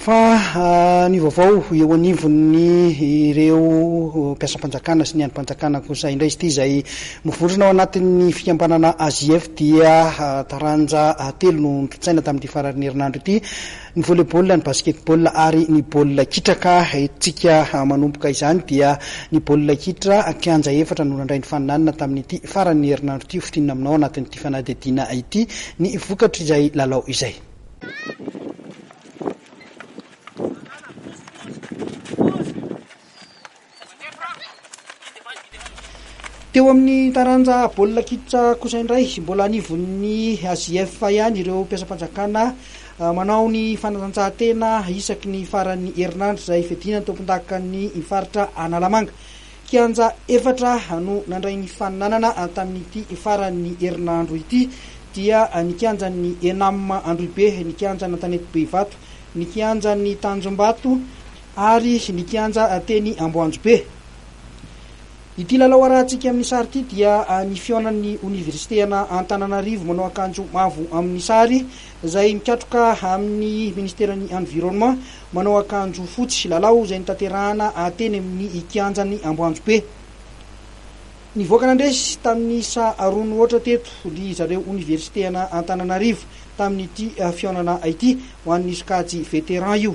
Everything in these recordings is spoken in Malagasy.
Fa ny vaovao eo anivon'ny ireo mpiasam-panjakana sy ny andrim-panjakana kosa indray izy ity izay voafondrana ao anatin'ny fikambanana AJF dia taranja telo no nitsaina tamin'ity faran'ny herinandro ity, ny volley-ball, ny basket-ball ary ny baolina kitra ka entintsika manomboka izany dia ny baolina kitra, kianja efatra no nandray ny faninanana tamin'ity faran'ny herinandro ity, hofintinina aminao anatin'ity fanadihadiana ity ny vokatr'izay lalao izay. Teo amin'ny taranja baolina kitra kosa indray, mbola anivon'ny AJF ihany ireo mpiasam-panjakana ah, manao ny fanatanjahantena isaky ny faran'ny herinandro izay fidinan'ny tompondakan'ny faritra Analamanga. Kianja efatra no nandray ny faninanana tamin'ity faran'ny herinandro ity dia ny kianjan'ny Enam Androhibe, ny kianjan'Antanety Behivato, ny kianjan'ny Tanjombato ary ny kianja teny Amboanjobe. Ity lalao arahantsika amin'ny sary ity dia ny fihaonan'ny Oniversite ana Antananarivo manao akanjo mavo amin'ny sary izay mikatroka amin'ny Ministeran'ny Environnement, Manao akanjo fotsy, lalao izay notanterahana teny amin'ny kianjan'ny Amboanjobe. Nivoaka nandresy tamin'ny isa roa mihoatra teto ry zareo oniversiteana Antananarivo tamin'ity fihaonana ity ho an'ny sokajy Vétéran io.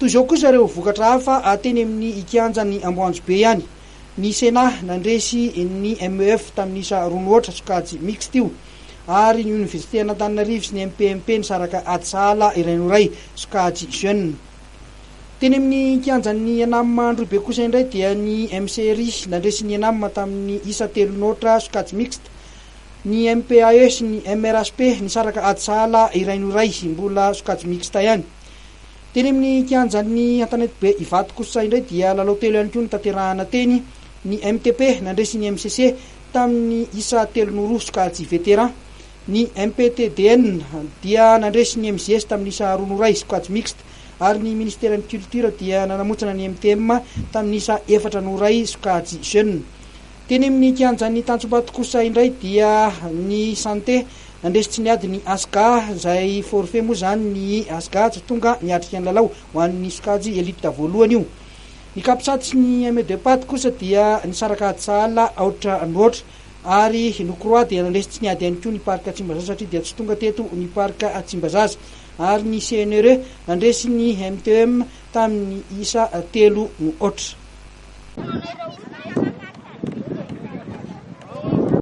Toy izao kosa ireo vokatra hafa teny amin'ny kianjan'ny Amboanjobe ihany. Ny Cena nandresy ny MEF tamin'ny isa roa mihoatra, sokajy mixte io, ary ny Oniversiten'Antananarivo sy ny MPMP nisaraka ady sahala iray no iray, sokajy jeunes. Teny amin'ny kianjan'ny Enam Androhibe kosa indray dia ny MCRI nandresy ny Enam tamin'ny isa telo notra sokajy mixte. Ny MPAE sy ny MRHP nisaraka ady sahala iray no iray, mbola sokajy mixte ihany. Teny amin'ny kianjan'ny Antanetibe Ivato kosa indray dia lalao telo ihany koa notanterahana teny. Ny MTP nandresy ny MCC tamin'ny isa telo no roa sokajy veteran. Ny MPTDN dia nandresy ny MJS tamin'ny isa roa noray, squad mixte, ary ny Ministeran'ny Culture dia nanamontsana ny MTM tamin'ny isa efatra noray, sokajy jeune. Teny amin'ny kianjan'ny Tantsobato kosa indray dia ny Santé nandresy tsy niady ny Asga, izay forfait moa izany ny Asga tsy tonga niatrika ny lalao ho an'ny sokajy Elite voalohany io. Ny Capsat sy ny ME-Depad kosa dia nisaraka ady sahala aotra no aotra. ary Nokroa dia nandresy tsy niady ihany koa ny Parc Tsimbazaza satria dia tsy tonga teto ny Parc Tsimbazaza ary ny CNRE nandresy ny MTEM tamin'ny isa telo no aotra.